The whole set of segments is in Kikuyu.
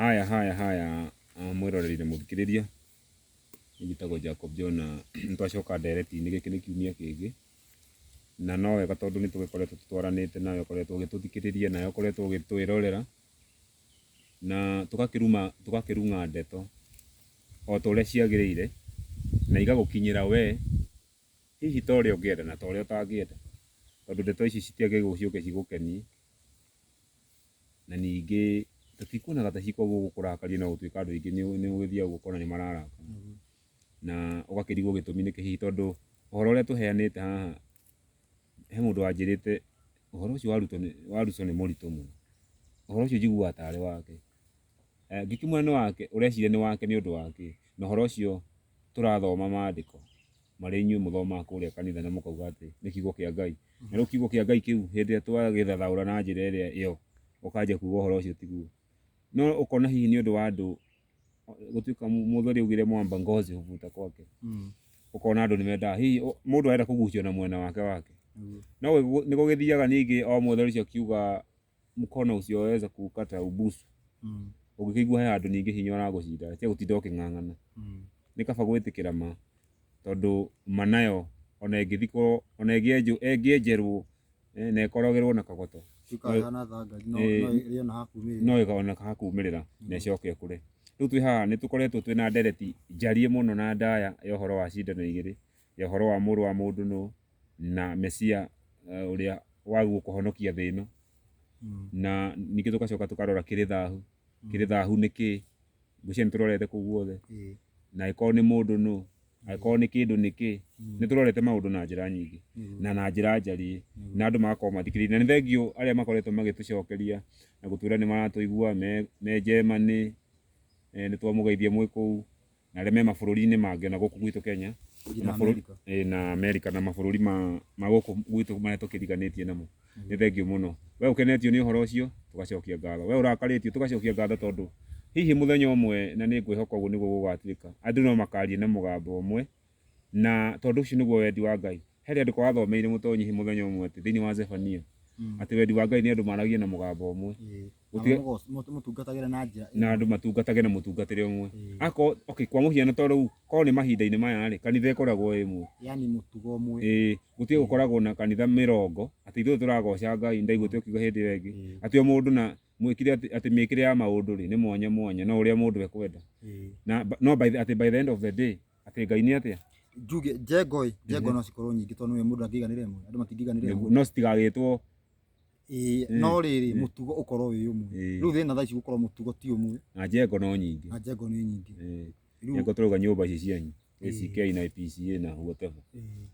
Haya haya haya ah, mwĩroreri na mũthikĩrĩria Niĩ njĩtagwo Jacob John na nĩtwacoka ndereti-inĩ gĩkĩ nĩ kiumia kĩngĩ na no wega tondũ nĩtũgĩkoretwo tũtwaranĩte nawe ũkoretwo ũgĩtũthikĩrĩria nawe ũkoretwo ũgĩtwĩrorera na tũgakĩruma tũgakĩrung'a ndeto o ta ũrĩa ciagĩrĩire na igagũkinyĩra we hihi ta ũrĩa ũngĩenda na ta ũrĩa ũtangĩenda tondũ ndeto ici citiagĩrĩirwo ciũke cigũkenie na ningĩ tũtikuonaga ta cikoragwo gũkũ kũrakaria no gũtuĩka andũ aingĩ nĩ- nĩ ũgĩthiaga ũguo ũkona nĩ mararakara na ũgakĩrigwo gĩtũmi nĩkĩ hihi tondũ ũhoro ũrĩa tũheanĩte haha he mũndũ wanjĩrĩte ũhoro ũcio wa Ruto nĩ- wa Ruto nĩ mũritũ mũno ũhoro ũcio njiguaga tarĩ wake Eh, ngĩkĩmwĩra nĩ wake ũreciria nĩ wake nĩ ũndũ wa kĩ na ũhoro ũcio tũrathoma maandĩko marĩa inyuĩ mũthomaga kũrĩa kanitha na mũkauga atĩ nĩ kiugo kĩa Ngai. Na rĩu kiugo kĩa Ngai kĩu hĩndĩ ĩrĩa twagĩthathaũra na njĩra ĩrĩa ĩyo, ũkanjia kuuga ũhoro ũcio tiguo. No ũkona hihi nĩ ũndũ wa andũ gũtuĩka mũthuri augire mwamba ngozi huvuta kwake. Mm. Ũkona andũ nĩ mendaga hihi ũ- mũndũ arenda kũgucio na mwena wake wake. Mm. No gũgĩ- nĩ gũgĩthiaga ningĩ o mũthuri ũcio akiuga mũkono ũcio waweza kũũkata ũbusu Mm. ũngĩkĩigua he handũ ningĩ hinya ũragũcinda cia gũtinda ũkĩng'ang'ana Mm. nĩ kaba gwĩtĩkĩra ma tondũ ma nayo ona ĩngĩthikwo ona ĩngĩenjwo ĩngĩenjerwo eh, na ĩkorogerwo na kagoto Cikahana thangari no Eh. no ĩrĩo na hakumĩrĩra. no ĩkona kaha kumĩrĩra na ĩcoke kũre rĩu twĩ haha nĩ tũkoretwo twĩ na ndereti njarie mũno na ndaya ya ũhoro wa cindano igĩrĩ ya ũhoro wa mũrũ wa mũndũ nũ na mesia uh, ũrĩa wagwo kũhonokia thĩ ĩno Mm. na ningĩ tũgacoka tũkarora kĩrĩ thahu kĩrĩ thahu nĩ kĩ ngũcia nĩ tũrorete kũu guothe Ĩĩ. na angĩkorwo nĩ mũndũ nũ angĩkorwo nĩ kĩndũ nĩ kĩ Mm. nĩ tũrorete maũndũ na njĩra nyingĩ Mm. na na njĩra njariĩ Mm. na andũ magakorwo mathikĩrĩirie na nĩ thengiũ arĩa makoretwo magĩtũcokeria na gũtwĩra nĩ maratũigua me- me Germany eh, nĩ twamũgeithia mwĩ kũu na arĩa me mabũrũri-inĩ mangĩ na gũkũ gwitũ Kenya Nginya na mabũrũri- Amerika. ĩĩ, na Amerika na mabũrũri ma ma gũkũ gwitũ marĩa tũkĩriganĩtie namo nĩ thengiũ mũno we ũkenetio nĩ ũhoro ũcio tũgacokia ngatho we ũrakarĩtio tũgacokia ngatho tondũ hihi mũthenya ũmwe na nĩ ngwĩhoka ũguo nĩguo gũgatuĩka andũ no makaria na mũgambo ũmwe Na tondũ ũcio nĩguo wendi wa Ngai. He rĩandĩko wathomeire mũtonyi mũthenya ũmwe atĩ thĩinĩ wa Zefania, mm. atĩ wendi wa Ngai nĩ andũ maragie na mũgambo ũmwe. Mm. Gũtige... mũtungatagĩre na njĩra na andũ matungatage na mũtungatĩre ũmwe. Mm. Ako, okay, kwa mũhiano to rĩu korwo nĩ mahinda-inĩ maya rĩ, kanitha ĩkoragwo ĩ ĩmwe. Yaani mũtugo ũmwe. Ĩĩ, gũtige gũkoragwo na kanitha mĩrongo, atĩ ithuĩ tũragoca Ngai, ndaiguĩte ũkiuga hĩndĩ ĩyo ĩngĩ. Atĩ o mũndũ na mwĩkire atĩ mĩkire ya maũndũ rĩ nĩ mwanya mwanya no ũrĩa mũndũ ekwenda. Na no by the, atĩ by the end of the day atĩ ngai nĩ atĩa njuge njengo ĩ njengo no cikorwo nyingĩ tondũ nĩ mũndũ angĩiganĩra ĩmwe andũ matingĩiganĩra ĩmwe no citigagĩtwo Ĩĩ, Mm. no rĩrĩ Mm. mũtugo ũkorwo wĩ ũmwe Ĩĩ. rĩu thĩna thaa ici gũkorwo mũtugo ti ũmwe na njengo no nyingĩ na njengo nĩ nyingĩ Eh, rĩu njengo tũrauga nyũmba ici cianyu Ĩĩ. ACK na PCA na whatever ĩĩ.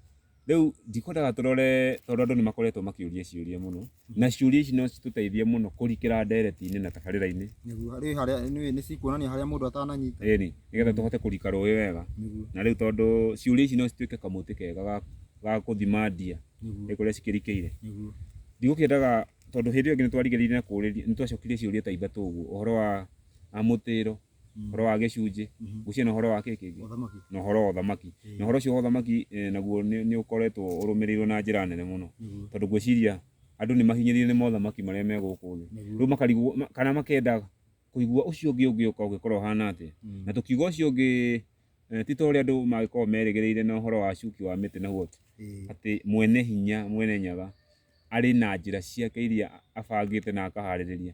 rĩu ndikwendaga tũrore tondũ andũ nĩ makoretwo makĩũria ciũria mũno na ciũria ici no citũteithie mũno kũrikĩra ndereti-inĩ na tabarĩra-inĩ nĩguo harĩ harĩa nĩ nĩ cikuonania harĩa mũndũ atananyita ĩni nĩgetha tũhote kũrika rũĩ wega nĩguo na rĩu tondũ ciũria ici no cituĩke kamũtĩ kega ga- ga gũthima ndia nĩguo nĩ kũrĩa cikĩrikĩire nĩguo ndigũkĩendaga tondũ hĩndĩ ĩyo ĩngĩ nĩ twarigĩrĩirie na kũũrĩria nĩ twacokirie ciũria ta ithatũ ũguo ũhoro wa a mũtĩro horo wa gĩcunjĩ gũciĩ na horo wa kĩĩ kĩngĩ Ũthamaki. na ũhoro wa ũthamaki na ũhoro ũcio wa ũthamaki eh, naguo nĩ nĩ ũkoretwo ũrũmĩrĩirwo na njĩra nene mũno Nĩguo. tondũ ngwĩciria andũ nĩ mahinyĩrĩirio nĩ mothamaki marĩa me gũkũ thĩ Nĩguo. rĩu makarigwo ma- kana makenda kũigua ũcio ũngĩ ũngĩũka ũngĩkorwo ũhana atĩa Mm. na tũkiuga ũcio ũngĩ eh, ti ta ũrĩa andũ mangĩkorwo merĩgĩrĩire na ũhoro wa cuki wa mĩtĩ na huoti Ĩĩ. atĩ mwene hinya mwene nyaga arĩ na njĩra ciake iria abangĩte na akaharĩrĩria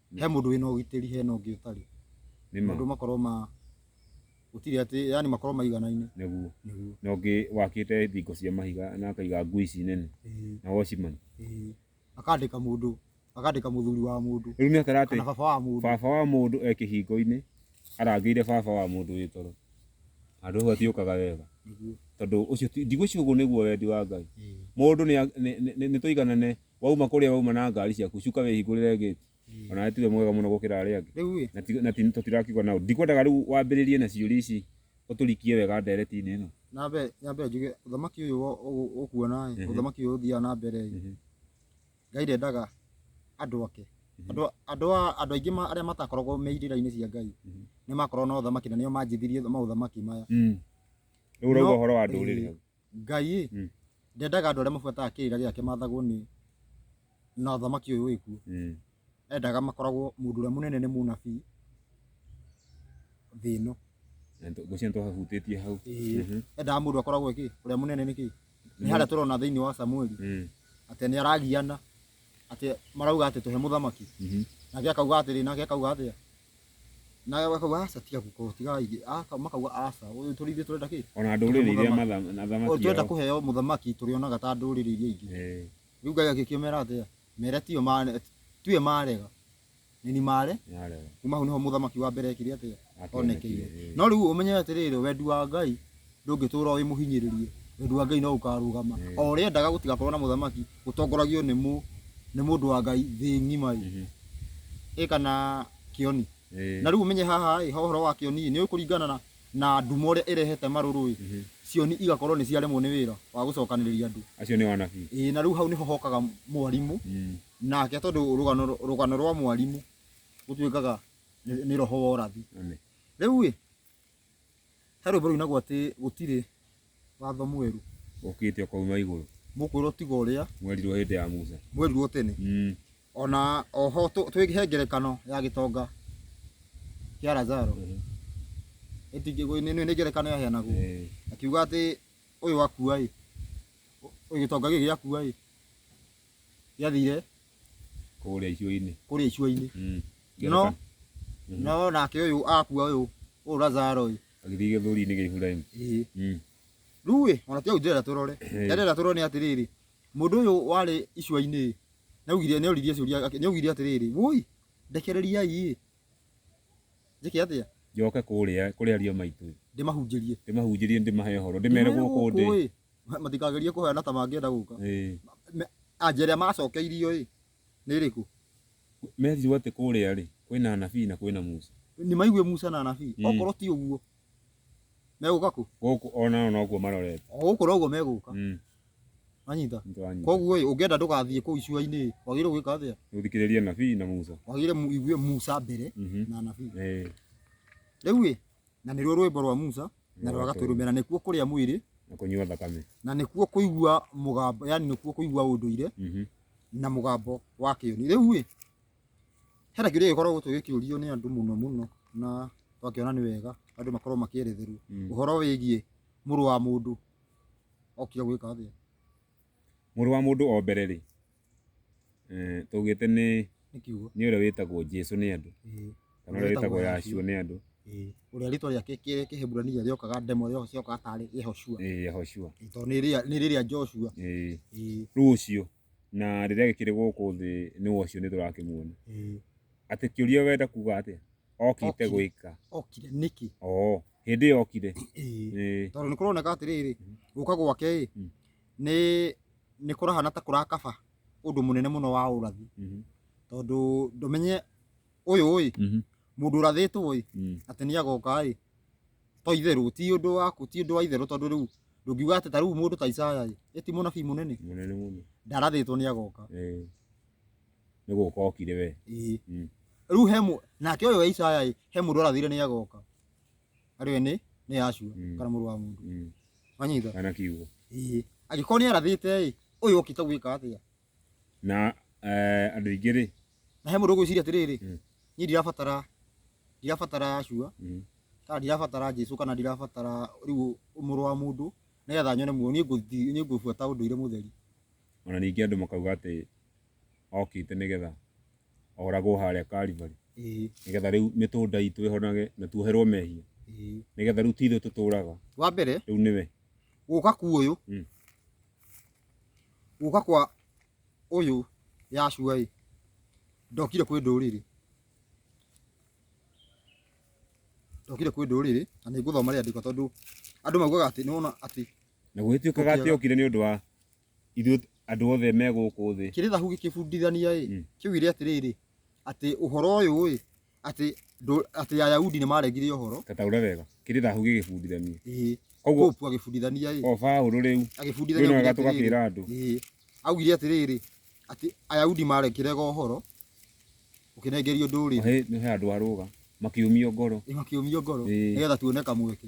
he mũndũ wĩna ũgitĩri hena ũngĩ ũtarĩ nĩma andũ makorwo ma gũtirĩ atĩ yani makorwo maiganaine nĩguo nĩguo na ũngĩ wakĩte thingo cia mahiga na akaiga ngui ici nene Ĩĩ, na watchman ĩĩ. akandĩka mũndũ akandĩka mũthuri wa mũndũ rĩu nĩ akara atĩ kana baba wa mũndũ baba wa mũndũ e kĩhingo-inĩ arangĩire baba wa mũndũ wĩ toro handũ hau hatiũkaga wega Nĩguo. tondũ ũcio ti- ndigwĩciria ũguo nĩguo wendi wa ngai Ĩĩ. mũndũ nĩ- nĩ- nĩ- nĩ tũiganane wauma kũrĩa wauma na ngari ciaku cuka wĩhingũrĩre gate o nawe tiwe mwega mũno gũkĩra arĩa angĩ Rĩu ĩ, na ti- na ti- tũtirakiuga nao ndikwendaga rĩu wambĩrĩrie na ciũria ici ũtũrikie wega ndereti-inĩ ĩno nyambe nyambe njuge ũthamaki ũyũ wo- ũ- ũkuona ĩ, Mhm. ũthamaki ũyũ ũthiaga na mbere ĩ, Mhm. ngai ndendaga andũ ake andũ andũ a- andũ aingĩ ma- arĩa matakoragwo me irĩra-inĩ cia ngai Mhm. nĩ makoragwo na ũthamaki na nĩo manjithirie maũthamaki maya Mm. rĩu ũrauga No- ũhoro wa ndũrĩrĩ ĩ, hau Ngai-ĩ, Mm. ndendaga andũ arĩa mabuataga kĩrĩra gĩake mathagwo nĩ na ũthamaki ũyũ wĩ kuo. Mm. Endaga makoragwo mũndũ ũrĩa mũnene nĩ mũnabii thĩ ĩno. Na nĩ- ngwĩciria nĩ twahutĩtie hau Ĩĩ. Mhm. Endaga mũndũ akoragwo kĩ, ũrĩa mũnene nĩ kĩ? Nĩ harĩa tũrona thĩinĩ wa Samueli Mm. atĩ nĩ aragiana atĩ marauga atĩ tũhe mũthamaki. Mhm. Nake akauga atĩrĩ, nake akauga atĩa? nawe wakauga aca tiga guko tiga ithe aka makauga aca uyu turi ithe turenda ki ona ndũrĩrĩ iria Mũthamaki. matha- na thamaki turenda yao. kuheo muthamaki turionaga ta nduriri iria ingi Eh, riu ngai agikimera atia mere tio mare tuye marega nini mare yarega. kuma hau niho muthamaki wa mbere ekire atia Atonekire, onekeire eh. no riu umenye atiriri wendi wa ngai ndũngĩtũra wĩ mũhinyĩrĩrie wendo wa Ngai no ũkarũgama o ũrĩa endaga gũtigakorwo na mũthamaki ũtongoragio nĩ mũ nĩ mũndũ wa Ngai thĩ ng'ima ĩ Mhm. ĩ kana kĩoni Ĩĩ. na rĩu ũmenye haha ĩ ha ũhoro wa kĩoni ĩ, nĩ ũĩ kũringana na na nduma ũrĩa ĩrehete marũrũ ĩ Mhm. cioni igakorwo nĩ ciaremwo nĩ wĩra wa gũcokanĩrĩria andũ acio nĩ wanabii ĩ na rĩu hau nĩho hokaga mwarimũ Mm. nake tondũ rũgano rũgano rwa mwarimũ gũtuĩkaga nĩ nĩ roho wa ũrathi Amen. rĩu ĩ He rwĩmbo rũinagwo atĩ gũtirĩ watho mwerũ ũkĩte ũkauma igũrũ mũkwĩrwo tiga ũrĩa mwerirwo hĩndĩ ya Musa mwerirwo tene mm. ona oho tũ- twĩ he ngerekano ya gĩtonga kĩa Lazaro Ĩtingĩ- nĩ- nĩ nĩ ngerekano yaheanagwo eh, akiuga atĩ ũyũ akua ĩ ũyũ gĩtonga gĩkĩ gĩakua ĩ gĩathire kũrĩa icuainĩ kũrĩa icuainĩ mm. no mm-hmm. no nake ũyũ akua ũyũ ũyũ Lazaro ũyũ agĩthiĩ gĩthũri-inĩ gĩa Iburahĩmu mm. rĩu ĩ ona tiagu ndĩrenda tũrore ndĩrenda tũrore nĩ atĩrĩrĩ mũndũ ũyũ warĩ icuainĩ nĩaugire nĩoririe ciũria nĩaugire atĩrĩrĩ woi ndekereriai njĩke atĩa njoke kũrĩa kũrĩa aria maitũ ndĩmahunjĩrie ndĩmahunjĩrie ndĩmahe ũhoro ndĩmere gũkũ ndĩ matikagerie kũheana ta mangĩenda gũka ĩĩ Me- anja ĩrĩa macokeirio ĩ nĩ ĩrĩkũ merirwo atĩ kũrĩa rĩ kwĩna anabii na kwĩna musa nĩ maigue musa na anabii Mm. okorwo ti ũguo megũka kũ gũkũ onao nokuo marorete o gũkũ noguo megũka Mm, anyita nĩtwanyita. koguo ĩ ũngĩenda ndũgathiĩ kũu icua-inĩ ĩ wagĩrĩirwo gwĩka atĩa gũthikĩrĩria nabii na musa wagĩrĩire mu- igue musa mbere Mhm. na anabii Ĩĩ. rĩu ĩ Na nĩruo rwĩmbo rwa Musa na rwa Gatũrũme, na nĩkuo kũrĩa mwĩrĩ na kũnyua thakame. na nĩkuo kũigua mũgambo, yani nĩkuo kũigua ũndũire Mhm. na mũgambo wa kĩũni. Rĩu ĩ, hena kĩũria gĩkoragwo tũgĩkĩũrio nĩ andũ mũno mũno na twakĩona nĩ wega andũ makorwo makĩeretherwo Mm. ũhoro wĩgiĩ mũrũ wa mũndũ okire gwĩka atĩa. Mũrũ wa mũndũ o mbere rĩ, eh, tũgĩte nĩ nĩ kiugo nĩ ũrĩa wĩtagwo Jesu nĩ andũ Ĩĩ, kana ũrĩa wĩtagwo Yahshua nĩ andũ ĩĩ. ũrĩa rĩtwa rĩake kĩ- kĩhĩburania rĩokaga ndemo rĩo- rĩokaga tarĩ yehoshua eh, Yahoshua Ĩĩ, tondũ nĩ rĩa- nĩ rĩrĩa joshua eh, Ĩĩ, rĩu ũcio na rĩrĩa gĩkĩrĩ gũkũ thĩ nĩ ũcio nĩ tũrakĩmuona ĩĩ. atĩ kĩũria wenda kuga atĩa okĩte Okire. gwĩka okire nĩkĩ oo hĩndĩ ĩyo okire Ĩĩ. eh, tondå nä kå roneka atä rä rä gå ka gwake ä Mm. nĩ nĩ kũrahana ta kũrakaba ũndũ mũnene mũno wa ũrathi Mhm. tondũ ndũmenye ũyũ ĩ Mhm. mũndũ ũrathĩtwo ĩ Mm. atĩ nĩ agoka ĩ to itherũ ti ũndũ waku ti ũndũ wa itherũ tondũ rĩu ndũngiuga atĩ ta rĩu mũndũ ta Isaya ĩ ĩ ti mũnabii mũnene Mũnene mũno. ndarathĩtwo nĩ agoka Eh. Nĩ gũka okire we. ĩĩ Mm. rĩu he mũ- nake ũyũ wa Isaya ĩ he mũndũ arathire nĩ agoka arĩ we nĩ nĩ yacua Mm. kana mũrũ wa mũndũ Mm. wanyita kana kiugo ĩĩ angĩkorwo nĩ arathĩte ĩ ũyũ okĩte gwĩka atĩa na eh, andũ aingĩ rĩ na he mũndũ ũgwĩciria atĩrĩrĩ Mm. niĩ ndirabatara ndirabatara yacua mm, kana ndirabatara jesu kana ndirabatara rĩu mũrũ wa mũndũ nĩgetha nyone muoyo niĩ ngũthi- niĩ ngũbuata ũndũire mũtheri ona ningĩ andũ makauga atĩ okĩte nĩgetha oragwo harĩa Karivari Ĩĩ, nĩgetha rĩu mĩtũnda itũ ĩhonage na tuoherwo mehia ĩĩ. nĩgetha rĩu ti ithuĩ tũtũũraga wa mbere rĩu nĩwe gũka ku ũyũ Mm. gũka kwa ũyũ yacua ĩ ndokire kwĩ ndũrĩrĩ ndokire kwĩ ndũrĩrĩ na nĩ ngũthoma rĩandĩko tondũ andũ maugaga atĩ nĩwona atĩ na gũgĩtuĩkaga atĩ Tũkĩaga. okire nĩ ũndũ wa ithuĩ andũ othe me gũkũ thĩ kĩrĩthahu gĩkĩbundithania ĩ Mm. kĩugire atĩrĩrĩ atĩ ũhoro ũyũ ĩ atĩ ndũ- atĩ ayahudi nĩ maregire ũhoro kataura wega kĩrĩ thahu gĩgĩbundithania ĩĩ koguo popu agĩbundithania ĩ o baũrũ rĩu rĩu agĩbundithania nĩ augire wega atĩrĩrĩ, tũgakĩra andũ ĩĩ augire atĩrĩrĩ atĩ ayahudi marekĩrega ũhoro ũkĩnengerio ndũrĩrĩ he nĩ he andũ arũga makiumio ngoro ĩ makĩũmio ngoro Ĩĩ. nĩgetha tuone kamweke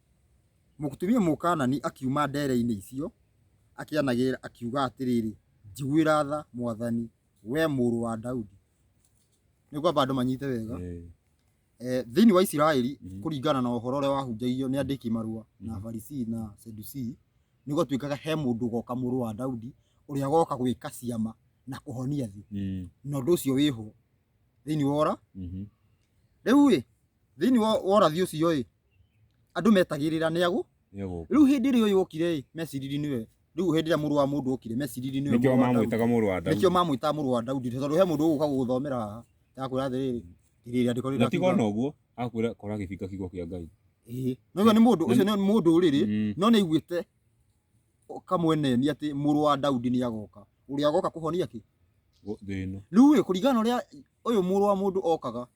Mũtumia Mũkaanani akiuma ndeere-inĩ icio, akĩanagĩrĩra, akiuga atĩrĩrĩ, Njiguĩra tha, Mwathani, wee mũrũ wa Daudi. Nĩ ngwamba andũ manyite wega. Eh, Eh, thĩinĩ wa Isiraeli Mhm. kũringana na ũhoro ũrĩa wahunjagio nĩ andĩki marũa na Mhm. Farisii na Sadusii nĩ gwatuĩkaga he mũndũ goka mũrũ wa Daudi ũrĩa goka gwĩka ciama na kũhonia thĩ mm, na ũndũ ũcio wĩho thĩinĩ wa ũra mhm, rĩu ĩ thĩinĩ wa wa ũrathi ũcio ĩ andũ metagĩrĩra nĩ agũ Nĩagũka. rĩu hĩndĩ ĩrĩa ũyũ okire ĩ meciriri nĩwe rĩu hĩndĩ ĩrĩa mũrũ wa mũndũ okire meciriri nĩwe Nĩkĩo mũrũ wa Daudi. mamwĩtaga mũrũ wa Daudi. nĩkĩo mamwĩtaga mũrũ wa Daudi tondũ he mũndũ ũgũka gũgũthomera haha ndakwĩra atĩrĩrĩ rĩrĩa andĩko rĩu Na ti gona ũguo, akwĩra kora gĩbinga kiugo kĩa Ngai. Ĩĩ. na ũcio nĩ mũndũ ũcio nĩ mũndũ ũrĩrĩ Mm. no nĩ aiguĩte kamweneni atĩ mũrũ wa Daudi nĩ agoka ũrĩa agoka kũhonia kĩ Gũ- Thĩ ĩno. rĩu ĩ kũringana na ũrĩa ũyũ mũrũ wa mũndũ okaga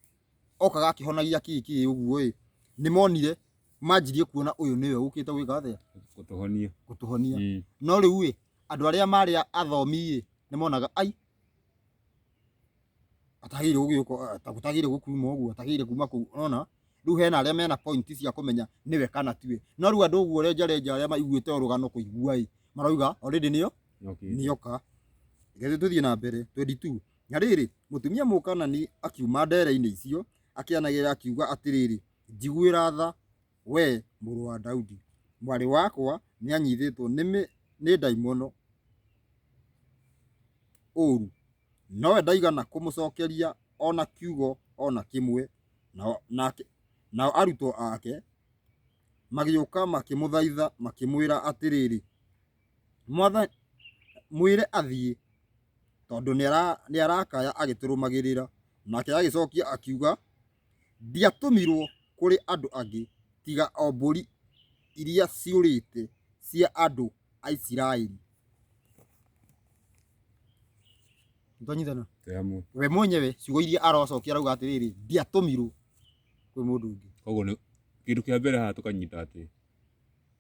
okaga akĩhonagia kĩĩ kĩĩ ũguo ĩ nĩ monire manjirie kuona ũyũ nĩwe ũkĩte gwĩka atĩa gũtũhonia gũtũhonia Mm. no rĩu ĩ andũ arĩa marĩ a- athomi ĩ nĩ monaga ai atagĩrĩire gũgĩũka atagĩrĩire gũkuma ũguo atagĩrĩire kuma kũu ona rĩu hena arĩa mena point cia kũmenya nĩwe kana tiwe no rĩu andũ ũguo renja renja arĩa maiguĩte ũrũgano kũigua ĩ marauga already nĩyo Okay. nĩoka reke tũthiĩ na mbere 22 Na rĩrĩ, mũtumia Mũkaanani akiuma ndeere-inĩ icio, akĩanagĩrĩra akiuga atĩrĩrĩ, Njiguĩra tha, wee mũrũ wa Daudi! Mwarĩ wakwa nĩanyiitĩtwo nĩ mĩ, nĩ ndaimono ũũru. Nowe ndaigana kũmũcookeria o na kiugo o na kĩmwe. Nao, nake, nao arutwo ake magĩũka makĩmũthaitha makĩmwĩra atĩrĩrĩ, Mwathani, mwĩre athiĩ, tondũ nĩarakaya agĩtũrũmagĩrĩra. Nake agĩcokia akiuga, Ndiatũmirwo kũrĩ andũ angĩ, tiga o mbũri iria ciũrĩte cia andũ a Isiraeli. Nĩtwanyitana? Tũyamũ. We mwenyewe ciugo iria arocokia arauga atĩrĩrĩ, ndiatũmirwo kwĩ mũndũ ũngĩ. Koguo nĩ kĩndũ kĩa mbere haha tũkanyita atĩ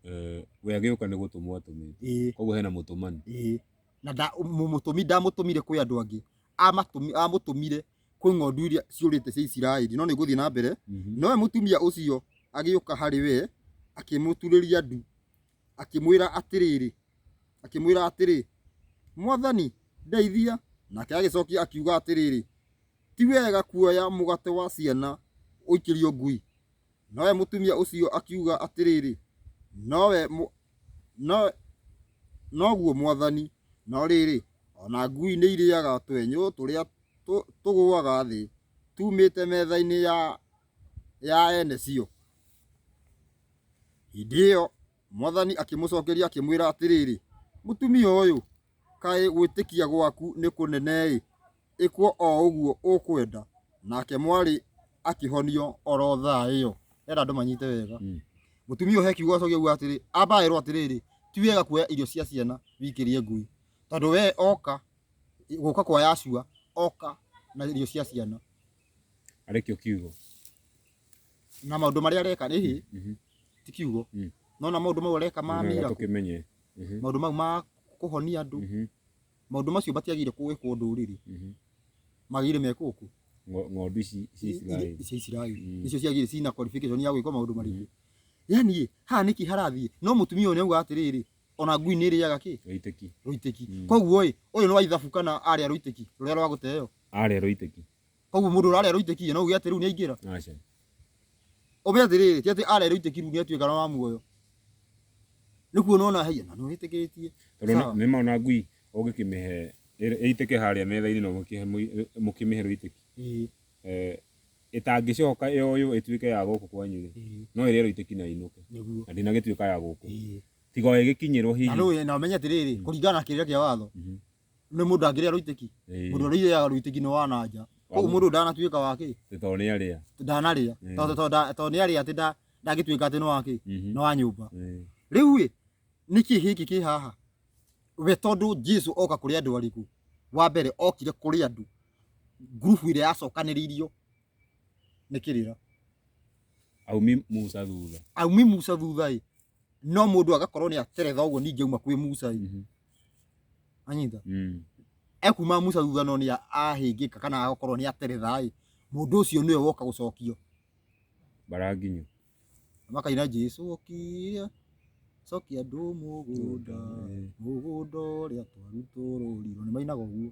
Eh, we agĩũka nĩ gũtũmwo atũmĩte ĩĩ koguo hena mũtũmani ĩĩ na nda- mũ- mũtũmi ndamũtũmire kwĩ andũ angĩ Amatũmi- amũtũmire kwĩ ng'ondu iria ciũrĩte cia isiraeli no nĩ ngũthiĩ na mbere Mhm. nowe mũtumia ũcio agĩũka harĩ we akĩmũturĩria ndu akĩmwĩra atĩrĩrĩ akĩmwĩra atĩrĩ mwathani ndeithia nake agĩcokia akiuga atĩrĩrĩ ti wega kuoya mũgate wa ciana ũikĩrio ngui Nowe mũtumia ũcio akiuga atĩrĩrĩ, Nowe mũ... no... noguo mwathani, no rĩrĩ, o na ngui nĩ irĩaga twenyũ tũrĩa tũ... tũgũaga thĩ tumĩte metha-inĩ ya ya ene cio. Hĩndĩ ĩyo Mwathani akĩmũcokeria akĩmwĩra atĩrĩrĩ, Mũtumia ũyũ, kaĩ gwĩtĩkia gwaku nĩ kũnene-ĩ, ĩkwo o ũguo ũkwenda. Nake mwarĩ akĩhonio o ro thaa ĩyo. Ndĩrenda andũ manyite wega. Mũtumia ũyũ he kiugo acokia auga atĩrĩ, amba erwo atĩrĩrĩ, ti wega kuoya irio cia ciana wikĩrie ngui, tondũ we oka, gũka kwa Yahshua, oka na irio cia ciana. arĩ kĩo kiugo na maũndũ marĩa areka rĩ hĩ Mhm. ti kiugo Mm. no na maũndũ mau areka ma Nĩgetha miracle tũkĩmenye Mhm, maũndũ mau ma kũhonia andũ mhm, maũndũ macio matiagĩrĩire kũwĩkwo ndũrĩrĩ mhm. magĩrĩire mekwo kũ Ngo- ng'ondu ici cia Isiraeli cia Isiraeli Mm. nicio ciagĩrĩire cina qualification ya gwĩkwo maũndũ marĩkũ yani ĩ, haha nĩkĩ harathiĩ no mũtumia ũyũ nĩauga atĩrĩrĩ ona ngui nĩrĩaga kĩ gaitĩki rũitĩki Mm. koguo ĩ ũyũ nĩ wa ithabu kana arĩa rũitĩki rũrĩa rwa gũteo Arerwo itĩki. Koguo mũndũ ũrarerwo itĩki ĩ, no uge atĩ rĩu nĩaingĩra? Aca. Ũme atĩrĩrĩ, ti atĩ arerwo itĩki rĩu nĩatuĩka wa muoyo. Nĩkuona ona haiya, na nĩwĩtĩkĩtie. Tondũ Sawa. nĩ nĩmona ngui ũngĩkĩmĩhe ĩrĩ- ĩitĩke harĩa metha-inĩ na ũmĩkĩhe mũi- mũkĩmĩhe rũitĩki. Ĩĩ, Eh, ĩtangĩcoka yoywo ĩtuĩke ya gũkũ kwanyu rĩ, ĩĩ, no ĩrĩerwo itĩki na ĩinũke. nĩguo. Na ndĩnagĩtuĩka ya gũkũ. Ĩĩ. Tiga o ĩgĩkinyĩrwo Na hihi. nĩũĩ- na ũmenye atĩrĩrĩ, kũringana na kĩrĩra kĩa watho, Mhm. nĩ mũndũ ndangĩrĩa rũitĩki Ĩĩ. mũndũ ũrĩa irĩaga rũitĩki nĩ wa na nja koguo mũndũ ndanatuĩka wa kĩ Tĩ tondũ nĩ arĩa. ndanarĩa Ĩĩ. tondũ tondũ nda- tondũ nĩ arĩa atĩ nda- ndangĩtuĩka atĩ nĩ wa kĩ Mhm. nĩ wa nyũmba Ĩĩ. rĩu ĩ nĩkĩ gĩkĩ kĩ haha we tondũ jesu oka kũrĩ andũ arĩkũ wa mbere okire kũrĩ andũ ngurubu ĩrĩa yacokanĩrĩirio nĩ kĩrĩra Aumi Musa thutha. aumi musa thutha ĩ no mundu agakorwo ni ateretha uguo ningi uma kwi Musa ri Mhm. anyita Mm. ekuma Musa thutha no ni ahingika kana agakorwo ni ateretha ri mundu ucio niwe woka gucokio Baranginyo. makaina Jesu okia cokia andũ mũgũnda mũgũnda ũrĩa twarutũrũrirwo nĩ mainaga ũguo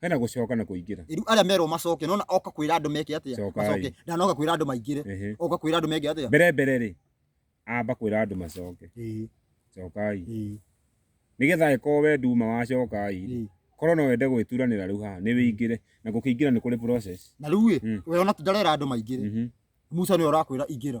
Hena gũcoka na kũingĩra. Rĩu arĩa merwo macoke nona oka kwĩra andũ meke atĩa? Cokai. Macoke. Ndanoka kwĩra andũ maingĩre. Ehe. Oka kwĩra andũ meke atĩa? Mbere mbere rĩ, amba kwĩra andũ macoke. Ĩĩ, Cokai. ĩĩ, Nĩgetha angĩkorwo we nduma wa cokai rĩ, ĩĩ. korwo no wende gwĩturanĩra rĩu haha nĩ wĩingĩre na gũkĩingĩra nĩ kũrĩ process. Na rĩu ĩ, Mm. we ona tu ndarera andũ maingĩre. Mhm. Musa nĩwe ũrakwĩra ingĩra.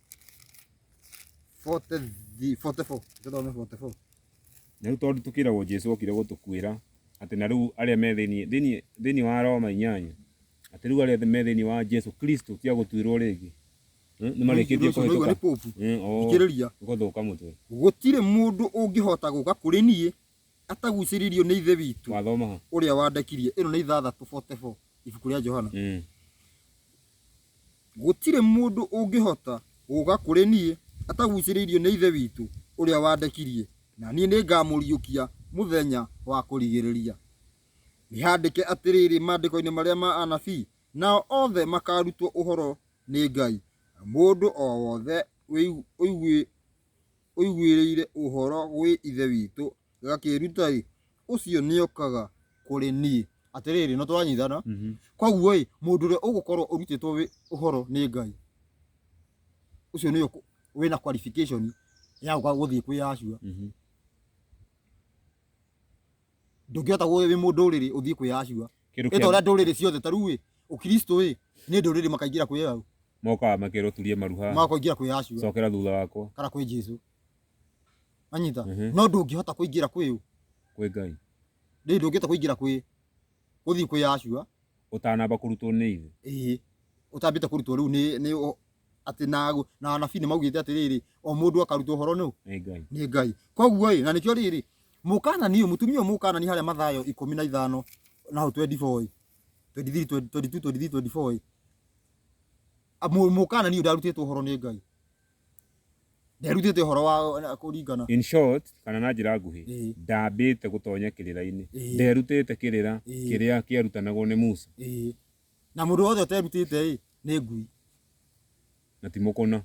rĩu tondũ tũkĩragwo jesu okire gũtũkuĩra atĩ na rĩu arĩa me thĩinĩ- thĩinĩ- thĩinĩ wa roma inyanya atĩ rĩu arĩa me thĩinĩ wa jesu kristo tia gũtuĩrwo rĩngĩ Mm, nĩ marĩkĩtie Ũcio nĩguo nĩ kũhĩtũka popu. Mm, oo, Thikĩrĩria. gũthũka mũtwe gũtirĩ mũndũ ũngĩhota gũka kũrĩ niĩ atagucĩrĩirio nĩ ithe witũ Wathoma ha? ũrĩa wandekirie ĩno nĩ ithathatũ 44 ibuku rĩa johana Mm. gũtirĩ mũndũ ũngĩhota gũka kũrĩ niĩ atagucĩrĩirio nĩ ithe witũ ũrĩa wandekirie na niĩ nĩngamũriũkia mũthenya wa kũrigĩrĩria nĩhandĩke atĩrĩrĩ maandĩko-inĩ marĩa ma anabii nao othe makarutwo ũhoro nĩ ngai mũndũ o wothe ũigu- ũigui- ũiguĩrĩire ũhoro gwĩ Ithe witũ, gakĩĩruta-ĩ, ũcio nĩokaga kũrĩ niĩ. Atĩrĩrĩ, nĩ tũranyitana? Koguo-ĩ, mũndũ ũrĩa ũgũkorwo ũrutĩtwo wĩ, ũhoro nĩ Ngai, ũcio nĩwe ũkũ, wĩna qualification ya gũka gũthiĩ kwĩ Yahshua. ndũngĩhota gũ- wĩ mũndũrĩrĩ ũthiĩ kwĩ acua Kĩndũ ĩta kĩa- ũrĩa ndũrĩrĩ ciothe ta rĩu ĩ ũkristo ĩ nĩ ndũrĩrĩ makaingĩra kwĩ au mokaga makerwo turie maru haha magakoingĩra kwĩ acua cokera thutha wakwa kana kwĩ jesu anyita Mhm. no ndũngĩhota kũingĩra kwĩ ũ kwĩ ngai rĩu ndũngĩhota kũingĩra kwĩ gũthiĩ kwĩ acua ũtanamba kũrutwo nĩ ithe ĩĩ ũtambĩte kũrutwo rĩu nĩ nĩ ũ- atĩ na na anabii nĩ maugĩte atĩrĩrĩ o mũndũ akarutwo ũhoro nũ nĩ ngai nĩ ngai koguo ĩ na nĩkĩo rĩrĩ mũkanani ũyũ mũtumia ũyũ mũkanani harĩa mathayo ikũmi na ithano na hau 24 ĩ 23 22 23 24 ĩ A- mũ- mũkanani ũyũ ndarutĩtwo ũhoro nĩ ngai nderutĩte ũhoro wa na- kũringana in short kana na njĩra nguhĩ Ĩĩ. ndambĩte gũtonya kĩrĩra-inĩ Ĩĩ. nderutĩte kĩrĩra Ĩĩ. kĩrĩa kĩarutanagwo nĩ musa ĩĩ na må ndå wothe å terutä te rä nä ngui na ti mũkũna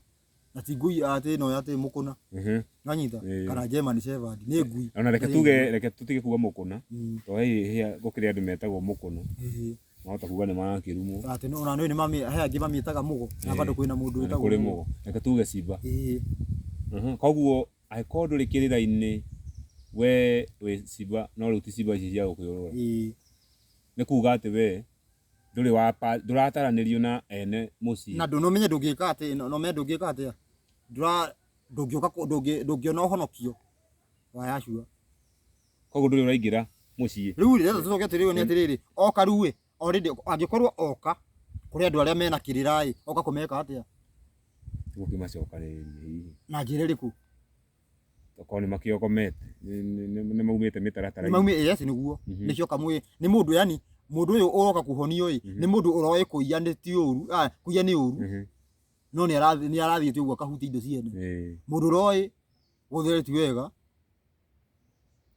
na ti ngui atä ä no atä må kå na Mhm. nanyita Ĩĩ. kana njema nä cevandi nä ngui ona reke tuge reke tũtige kuga mũkũna Mm. tondũ he hĩa gũkĩrĩ andũ metagwo mũkũna Ĩĩ. mahota kuga nĩ marakĩrumwo atä ona nä mamä he angä mamä taga må go na Ĩĩ. bandå kwä na må ndå na nĩ wä kũrĩ mũgo reke tuge cimba Ĩĩ. Mhm. koguo angĩkorwo ndũrĩ kĩrĩra-inĩ we wĩ cimba no rĩu ti cimba ici cia gũkĩũrũra Ĩĩ. Nĩ kuuga atĩ wee ndũrĩ wa ndũrataranĩrio na ene mũciĩ. Na ndũ no menye ndũngĩka atĩ no menye ndũngĩka atĩ ndũra ndũngĩũka ndũngĩona ũhonokio wa Yahshua. Koguo ndũrĩ ũraingĩra mũciĩ. Rĩu rĩ rĩrĩa tũcoke atĩrĩrĩ nĩ atĩrĩrĩ oka rĩu ĩ already angĩkorwo oka kũrĩ andũ arĩa mena kĩrĩra ĩ oka kũmeka atĩa? Gũkĩmacokanĩrĩria hihi. Na njĩra ĩrĩkũ? Okorwo nĩ makĩogomete nĩ- nĩ- nĩ- nĩ maumĩte mĩtaratara maumĩ yes nĩguo Mhm. nĩkĩo kamwĩ nĩ mũndũ yani mũndũ ũyũ ũroka kuhonio ĩ Mhm. nĩ mũndũ ũroĩ kũiya nĩ ti ũru ah, kũiya nĩ ũru Mhm. no nĩ arathi- nĩ arathiĩte ũguo akahutia indo ciene Ĩĩ. mũndũ ũroĩ gũthera ti wega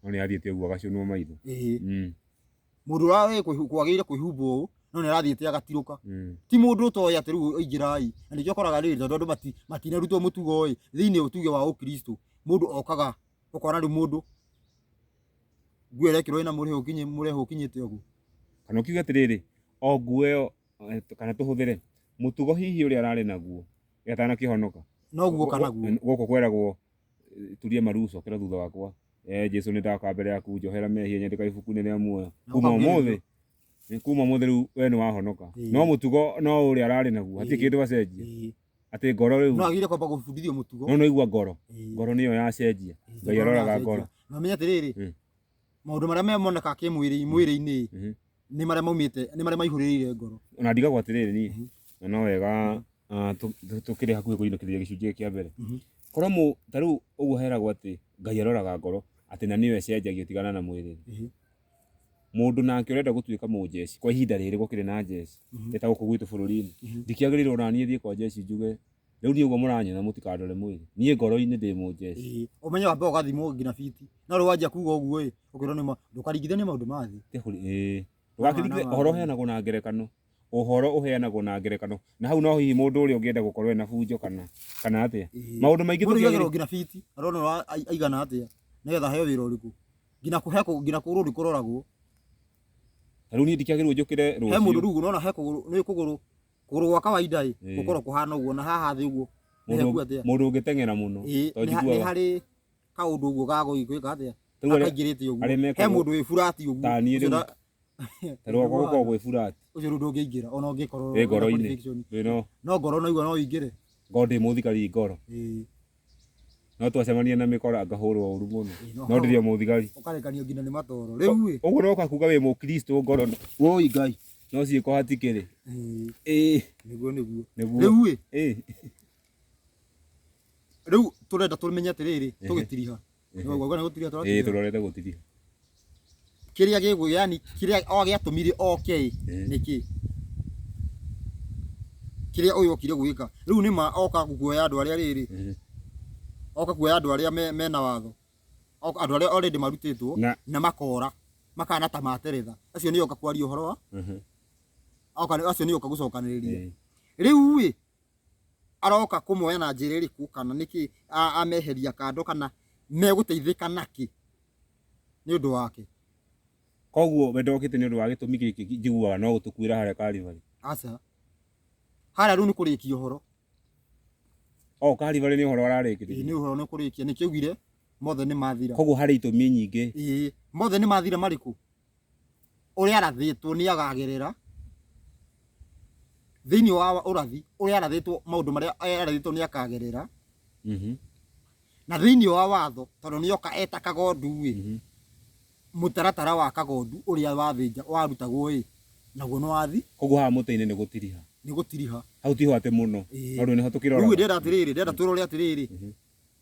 No nĩ athiĩte ũguo agacũnwo maitho. ĩĩ Mm. Mũndũ ũrarĩ kwĩhu- kwagĩrĩire kwĩhumbwo ũũ, no nĩarathiĩte agatirũka. Mm. Ti mũndũ ũtoĩ atĩ rĩu aingĩrai. Na nĩkĩo ũkoraga rĩrĩ tondũ andũ mati- matinarutwo mũtugo-ĩ, thĩiniĩ wa tuge wa Ũkristo, mũndũ okaga, ũkona rĩu mũndũ nguo ĩrekĩrwo ĩna mũrĩo ũkinyĩ- mũrĩo ũkinyĩte ũguo. Kana ũkiuge atĩrĩrĩ, o nguo ĩyo eh, kana tũhũthĩre mũtugo hihi ũrĩa ararĩ naguo atanakĩhonoka. Noguo kana guo. Gũkũ kweragwo turie maruco kira thutha wakwa eh jesu ni ndaka mbere yaku njohera mehia nyandika ibuku-inĩ rĩa muoyo Na kuma ũkambia ũmũthĩ nĩ kuma ũmũthĩ rĩu we nĩ wahonoka Ĩĩ. no mũtugo no ũrĩa ararĩ naguo hatirĩ Ĩĩ. kĩndũ acenjia Ĩĩ. atĩ ngoro rĩu no agire kwamba gũbundithio mũtugo no naigua ngoro Ĩĩ. ngoro nĩyo yacenjia Ĩĩ. ngai aroraga ngoro na menye atĩrĩrĩ Mm. maũndũ marĩa me monekaga kĩmwĩrĩ mwĩrĩ-inĩ Mhm. nĩ marĩa maumĩte nĩ marĩa maihũrĩrĩire ngoro ona ndigagwo atĩrĩrĩ niĩ Mhm. na no wega ah, tũ- tũ- tũkĩrĩ hakuhĩ kũinũkĩrĩria gĩcunjĩ gĩkĩ kĩa mbere Mhm. korwo mũ ta rĩu ũguo heragwo atĩ ngai aroraga ngoro atĩ na nĩyo ĩcenjagio tigana na mwĩrĩ Mhm. mũndũ nake ũrenda gũtuĩka mũnjeci kwa ihinda rĩrĩ gũkĩrĩ na njeci Mhm. ĩtagũkũ gwitũ bũrũri-inĩ Mhm. ndikĩagĩrĩirwo naniĩ thiĩ kwa njeci njuge rĩu niĩ ũguo mũranyona mũtikandore mwĩrĩ niĩ ngoro-inĩ ndĩ mũnjeci Ĩĩ, ũmenye wambe ũgathimwo nginya biti no rĩu wanjia kuga ũguo ĩ ũkĩrwo nĩ ma ndũkaringithanie maũndũ ma thĩ Kĩhũri, ĩĩ. Ndũgakĩringithanie Mwana wa ũhoro Ngai. ũheanagwo na ngerekano ũhoro ũheanagwo na ngerekano na hau no hihi mũndũ ũrĩa ũngĩenda gũkorwo ena bunjo kana kana atĩa Ĩĩ. maũndũ maingĩ mũndũ tũkĩagĩrĩirwo igagĩrwo nginya biti arona ũra- ai- aigana atĩa nĩgetha heo wĩra ũrĩkũ nginya kũhe kũ- nginya kũgũrũ nĩ kũroragwo rĩu niĩ ndikĩagĩrĩirwo njũkĩre he mũndũ rũciũ rĩu ũrona he kũgũrũ nĩ kũgũrũ Kũgũrũ gwa kawaida ĩ Ĩĩ. gũkorwo kũhana ũguo na haha thĩ ũguo nĩ hehu mũndũ atĩa? mũndũ ũngĩteng'era mũno Ĩĩ, to nĩ ha- nĩ njiguaga harĩ kaũndũ ũguo gagũgĩka atĩa Rĩu arĩa- gakaingĩrĩte ũguo arĩa mekagwo- he mũndũ wĩ burati ũguo Ta niĩ Ũcio rĩu. nda- ta rwakwa gũkorwo gwĩ burati ũcio rĩu ndũngĩingĩra ona ũngĩkorwo wĩ wĩna ngoro-inĩ conviction. wĩno no ngoro naigua no ũingĩre ngoro ndĩmũthikari ngoro Ĩĩ. no twacemania na mĩkora ngahũrwo ũru mũno no ndĩrĩ mũthigari ũkarekanio nginya nĩ matoro rĩu ĩ ũguo no kakuga wĩ mũkristo ngoro woi ngai no ciĩko hatikĩrĩ Ĩĩ, ĩĩ nĩguo nĩguo nĩguo rĩu ĩ ĩĩ rĩu tũrenda tũmenye atĩrĩrĩ tũgĩtiriha Nĩguo ũguo, ũguo nĩ gũturia ĩĩ tũraturia. tũrorete gũtiria Kĩrĩa gĩgwĩ, yani kĩrĩa o gĩatũmire oke ĩ, Ĩĩ. nĩ kĩ? Kĩrĩa ũyũ okire gwĩka. Rĩu nĩ ma oka kuoya andũ arĩa rĩrĩ, Ĩĩ. oka kuoya andũ arĩa me- mena watho. Oka- Andũ arĩa already marutĩtwo Na- na makora, makana ta materetha. Acio nĩ oka kwaria ũhoro wa, Ĩĩ. oka nĩ- acio nĩ oka gũcokanĩrĩria. Ĩĩ. Rĩu ĩ, aroka kũmoya na njĩra ĩrĩkũ kana nĩkĩ a- ameheria kando kana megũteithĩka nakĩ nĩ ũndũ wake koguo we ndokĩte nĩ ũndũ wa gĩtũmi gĩkĩ njiguaga no gũtũkuĩra harĩa karibarĩ aca harĩa rĩu nĩ kũrĩkia ũhoro o karibarĩ nĩ ũhoro Ĩĩ, nĩ ararĩkĩrĩria ũhoro nĩ kũrĩkia nĩkĩaugire mothe nĩ mathira koguo harĩ itũmi nyingĩ Ĩĩ, mothe nĩ mathira marĩkũ ũrĩa arathĩtwo nĩ agagĩrĩra thĩinĩ wa ũrathi ũrĩa arathĩtwo maũndũ marĩa arathĩtwo nĩ akagerera mhm. na thĩinĩ wa watho tondũ nĩ oka eta kagondu ĩ mhm. mũtaratara wa kagondu ũrĩa wathĩnja warutagwo ĩ naguo nĩ wathi koguo haha mũtĩ-inĩ nĩ gũtiriha nĩ gũtiriha hau tiho atĩ mũno tondũ nĩho tũkĩrora rĩu ndĩrenda atĩrĩrĩ ndĩrenda twĩrore atĩrĩrĩ mhm.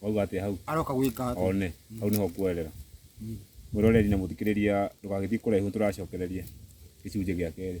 wauga atĩa hau aroka gwĩka atĩ one hau nĩho ngwerera mwĩroreri na mũthikĩrĩria ndũgagĩthiĩ kũraihu tũracokereria gĩcunjĩ gĩa kerĩ